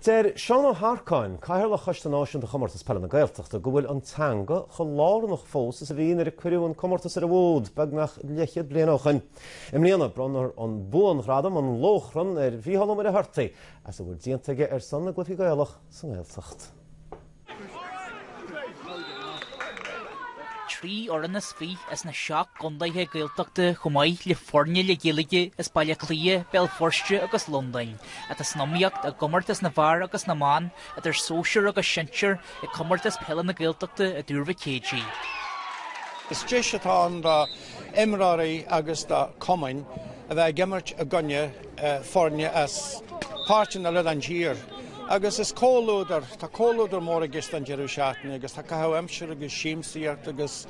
Deir Seán Ó hEarcáin, Cathaoirleach Choiste Náisiúnta Chomórtas Peile na Gaeltachta, go bhfuil an teanga chomh lárnach fós is a bhí nuair a cuireadh an comórtas ar an bhfód beagnach leathchéad bliain ó shin. I mbliana, bronnfar an buanghradam, An Lóchrann, ar Mhícheál Ó Muircheartaigh as a bhfuil déanta aige ar son na gcluichí Gaelach sa nGaeltacht. trí fhoireann is fiche as na seacht gcontaetha Gaeltachta chomh maith le foirne le Gaeilge as Baile Átha Cliath, Béal Feirste agus Londain, atá san iomaíocht i gcomórtas na bhfear agus na mban, idir sóisear agus sinsear, ag Comórtas Peile na Gaeltachta i dTuar Mhic Éadaigh. Is deis atá ann do imreoirí agus do chumainn a bheith ag imirt i gcoinne foirne as páirteanna eile den tír agus is comhluadar, tá comhluadar mór i gceist don deireadh seachtaine agus tá caitheamh aimsire agus siamsaíocht agus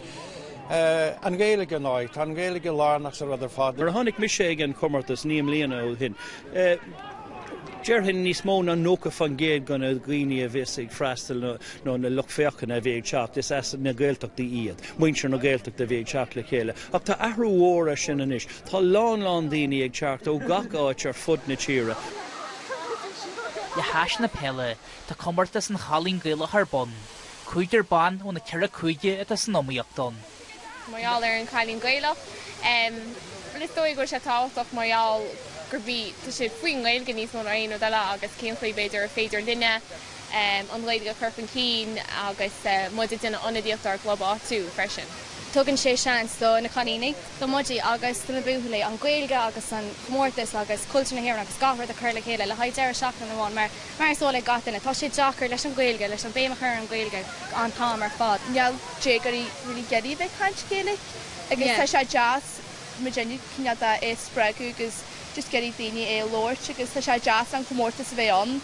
an Ghaeilge ar ndóigh, tá an Ghaeilge lárnach sa rud ar fad. Nuair a tháinig mise ag an chomórtas naoi mbliana ó shin, déarfainn níos mó ná 90% de na daoine a bheas ag freastal nó na lucht féachana a bhí ag teacht, is as na Gaeltachtaí iad, muintir na Gaeltachta a bhí ag teacht le chéile. Ach tá athrú mhór ar sin anois. Tá a lán lán daoine ag teacht ó gach áit ar fud na tíre. Le hais na peile, tá Comórtas an Chailín Gaelach ar bun. Cúigear ban ó na ceithre cúige atá san iomaíocht ann. mar gheall ar an Cailín Gaelach. Bhuel is dóigh go bhfuil sé tábhachtach mar gheall gurb í, tá sé faoin nGaeilge níos mó ná aon rud eile agus cén chaoi b'fhéidir ar féidir linne, an Ghaeilge a chur chun cinn agus muid ag déanamh ionadaíocht dár gclub áitiúil freisin. Tugann sé seans do na cailíní, do muide agus do na buachaillí an Ghaeilge agus an comórtas agus cultúr na hÉireann agus gach rud a chur le chéile le haghaidh deireadh seachtaine amháin mar, mar is eol ag gach duine, tá sé deacair leis an Ghaeilge, leis an béim a chur ar an Ghaeilge an t-am ar fad. níl déagóirí really ag iarraidh a bheith ag caint Gaeilge agus tá sé deas muid in ann cineál de é a spreagadh agus just ag iarraidh daoine é a labhairt agus tá sé deas an comórtas a bheith ann.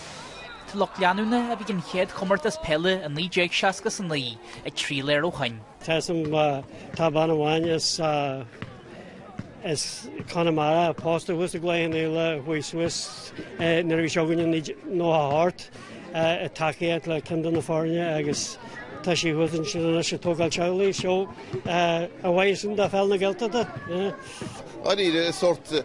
Tá lucht leanúna a bhí ag an chéad chomórtas peile i 1969 ag triall air ó shoin. Tá a fhios agam tá bean amháin as Conamara pósta thuas i gCloich Cheann Fhaola a chuaigh suas nuair a bhí seo againn i naoi déag nócha a hocht i dtacaíocht le ceann de na foirne agus tá sí thuas ansin anois ag tógáil teaghlaigh. Seo a mhaith sin de Pheil na Gaeltachta. Dháiríre is sórt.